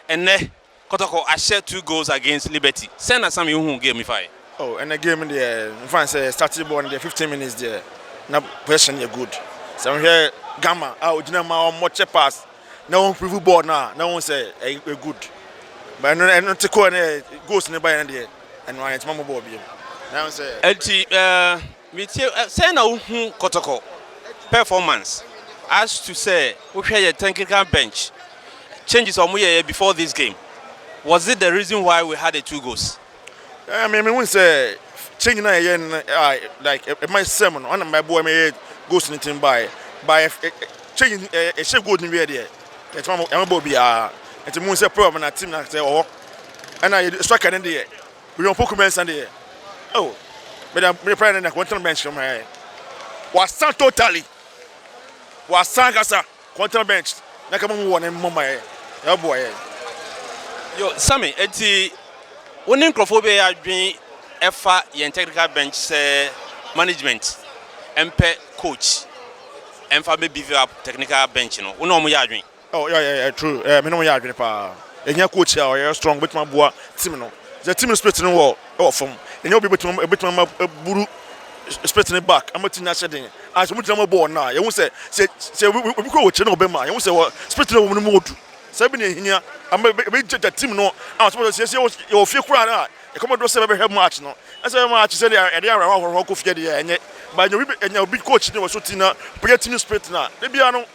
Ɛnnɛ, Kɔtɔkɔ ahyɛ two goals against Liberty. Sɛn na Sam Yun huu game yi fae? Oh, ɛnnɛ game no deɛ, mefa no sɛ yɛstartee bɔɔl no deɛ, fifteen minutes deɛ, na possession no yɛ good. Sɛ wohwɛ Gama a ɔgyina mu a wɔkyɛ pass na wɔmprove bɔɔl no a, na wohu sɛ ɛyɛ good. But ɛno no, ɛno te kɔɔ na goals no baeɛ no deɛ, ɛno ara yɛntumi ammɔ bɔɔl bio. Na wohu sɛ. Enti, eh, Metie ɛ sɛn na wo hu kɔtɔkɔ performance as to sɛ wo hwɛ yɛ technical bench changes a ɔmo yɛ yɛ before this game was it the reason why we had a two goals. Ɛɛ me me hu sɛ change na yɛ yɛ no a like ɛ ɛma yɛ sɛm no ɔna ma ɛboa ma yɛ yɛ goals no nti no baayɛ but yɛ ɛ ɛ change no ɛ yɛ hyɛ goal no wiɛ deɛ yɛ tuma yɛ ma bɔɔ biaa nti me hu sɛ problem na team na sɛ ɔhɔ ɛna yɛ striker no deɛ William Opoku Mensah deɛ oh meda mede prayer ne na kɔntɛn bench no mɛ wasan totally wasan kasa kɔntɛn bench na kama mu wɔ ne mmɔ ma yɛ ɛboa yɛ. Yo Sammy eti wo ne nkurɔfoɔ bɛyɛ adwene ɛfa yɛn technical bench sɛ management ɛmpɛ coach ɛmfa bɛ beef up technical bench no wo ne wɔn yɛ adwene. Oh yeah yeah yeah true eh me ne wɔn yɛ adwene paa ehia coach a ɔyɛ strong obetumi aboa team no sɛ team no spirit no wɔ ɛwɔ fam ehia obi obetumi obetumi ama aburu spirit no back ama team no ahyɛ den a sɛ wɔn gyina mu bɔ wɔn na yɛn ho sɛ sɛ sɛ obi kura wɔ kyerɛ na ɔbɛma yɛn ho sɛ wɔ spirit no wɔ wɔn no mu odu sɛ ebi na ehia ama ebe ebe gyagya team no a wɔn sɛ sɛ yɛ wɔ fie kura na ɛkɔmɔ do sɛ ɛbɛhwɛ match no ɛsɛ match sɛ deɛ ɛde awɛrɛ ahorow kɔ fie deɛ ɛnyɛ ba ɛnyɛ obi ɛnyɛ obi coach ne wɔ so team na pɛyɛ team spirit na ebi ano.